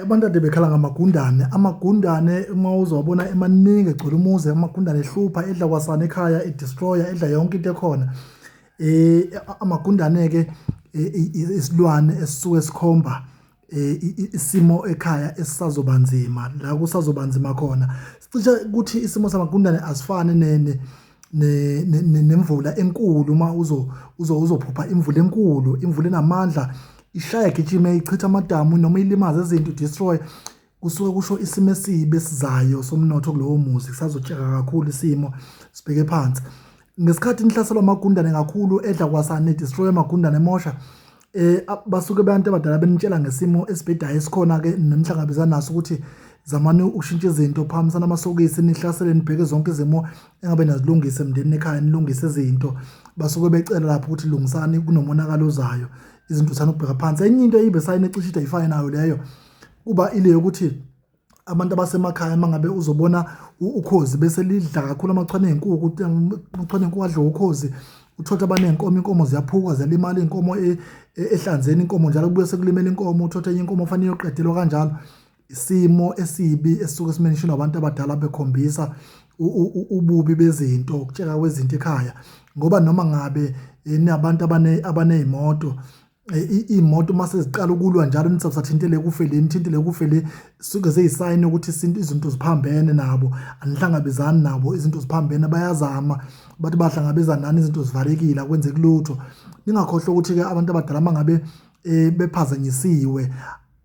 abantu ade bekhala ngamagundane amagundane uma uzowabona emaningi egcwele umuzi amagundane ehlupha edla kwasana ekhaya edestroya edla yonke into ekhona eh amagundane-ke isilwane esisuke sikhomba eh, isimo ekhaya esisazoba nzima la kusazoba nzima khona sicishe ukuthi isimo samagundane asifani nemvula enkulu uma uzophupha imvula enkulu imvula enamandla ishaya gijime ichitha amadamu noma ilimaze izinto destroy kusuke kusho isimo esibi esizayo somnotho kulowo muzi kusazotsheka kakhulu isimo sibheke phansi ngesikhathi nihlaselwa amagundane kakhulu edla kwasane destroy amagundane emosha eh basuke abantu abadala benitshela ngesimo esibhedayo esikhona ke nemhlangabezana naso ukuthi zamani ukushintsha izinto phakamisana amasokisi nihlasele nibheke zonke izimo engabe nazilungise emndenini ekhaya nilungise izinto basuke becela lapho ukuthi lungisani kunomonakalo ozayo izinto sana ukubheka phansi enye into eyibe sayine cishe idayifane nayo leyo kuba ile yokuthi abantu abasemakhaya uma ngabe uzobona ukhozi bese lidla kakhulu amachwane enkukhu amachwane enkukhu adla ukhozi uthotha abanenkomo inkomo ziyaphuka ziyalimala inkomo e, e, ehlanzeni inkomo njalo kubuye sekulimela inkomo uthotha enye inkomo fanele yoqedelwa kanjalo isimo esibi esisuke simentionwa abantu abadala bekhombisa ububi bezinto ukutsheka kwezinto ekhaya ngoba noma ngabe eh, nabantu abane abanezimoto iy'moto uma seziqala ukulwa njalo nithi sathintele kufe le nithintele kufe le suke zeyisayini ukuthi isintu izinto ziphambene nabo anihlangabezani nabo izinto ziphambene bayazama bathi bahlangabezana nani izinto zivalekile akwenzeki lutho ningakhohlwa ukuthi-ke abantu abadala uma ngabe um bephazanyisiwe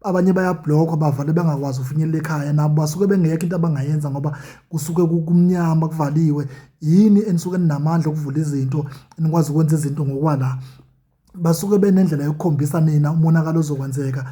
abanye bayabhlokwa bavale bengakwazi ukufinyelela ekhaya nabo basuke bengekho into abangayenza ngoba kusuke kumnyama kuvaliwe yini enisuke ninamandla okuvula izinto enikwazi ukwenza izinto ngokwala basuke benendlela yokukhombisa nina umonakalo ozokwenzeka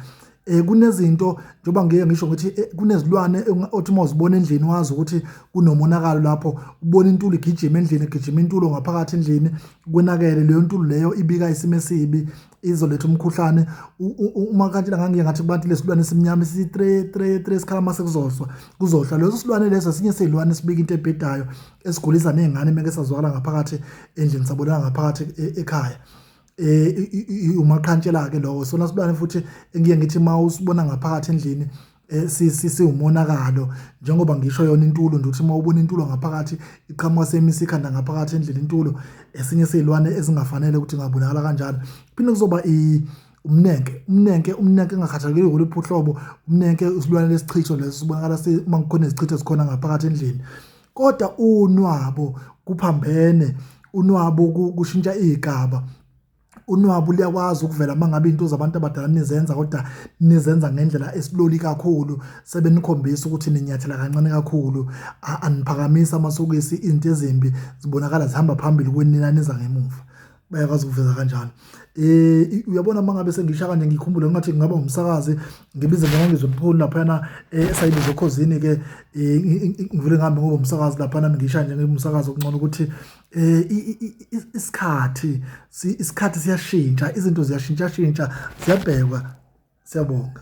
eh kunezinto njoba ngeke ngisho ukuthi eh, kunezilwane othi uma uzibona endlini wazi ukuthi kunomonakalo lapho ubona intuli igijima endlini igijima intulo ngaphakathi endlini kwenakele leyo ntulu leyo ibika isimo esibi izoletha umkhuhlane uma kanti la ngangiye ngathi kubantu lesilwane esimnyama si 3 3 3 sikhala mase kuzoswa kuzohla leso silwane leso sinye silwane sibika into ebhedayo esigulisa nezingane meke sazwakala ngaphakathi endlini sabonana ngaphakathi e, ekhaya eh umaqhantshela ke lowo sona sibane futhi engiye ngithi mawusibona ngaphakathi endlini Eh, siwumonakalo njengoba ngisho yona intulo nje ukuthi uma ubona intulo ngaphakathi iqhamuka semisa ikhanda ngaphakathi endlini intulo esinye seyilwane ezingafanele ukuthi ngabonakala kanjalo phinde kuzoba umnenke umnenke umnenke engakhathalekile ngoluphi uhlobo umnenke isilwane lesichitho leso sibonakala uma kukhona izichitho ezikhona ngaphakathi endlini kodwa unwabo kuphambene unwabo kushintsha igaba unwabu liyakwazi ukuvela mangabe into zabantu abadala nizenza kodwa nizenza ngendlela esiloli kakhulu sebenikhombisa ukuthi ninyathela kancane kakhulu aniphakamisa amasokisi into ezimbi zibonakala zihamba phambili kwenina niza ngemuva bayakwazi ukuveza kanjalo eh uyabona mangabe sengisha kanje ngikhumbule ngathi ngingaba umsakazi ngibize noma ngizwe mpholi lapha na eh, esayibizo khozini ke eh, ngivule ngihambe ngoba umsakazi lapha nami ngisha nje ngibumsakazi okungcono ukuthi eh isikhathi isikhathi siyashintsha izinto ziyashintsha shintsha ziyabhekwa siyabonga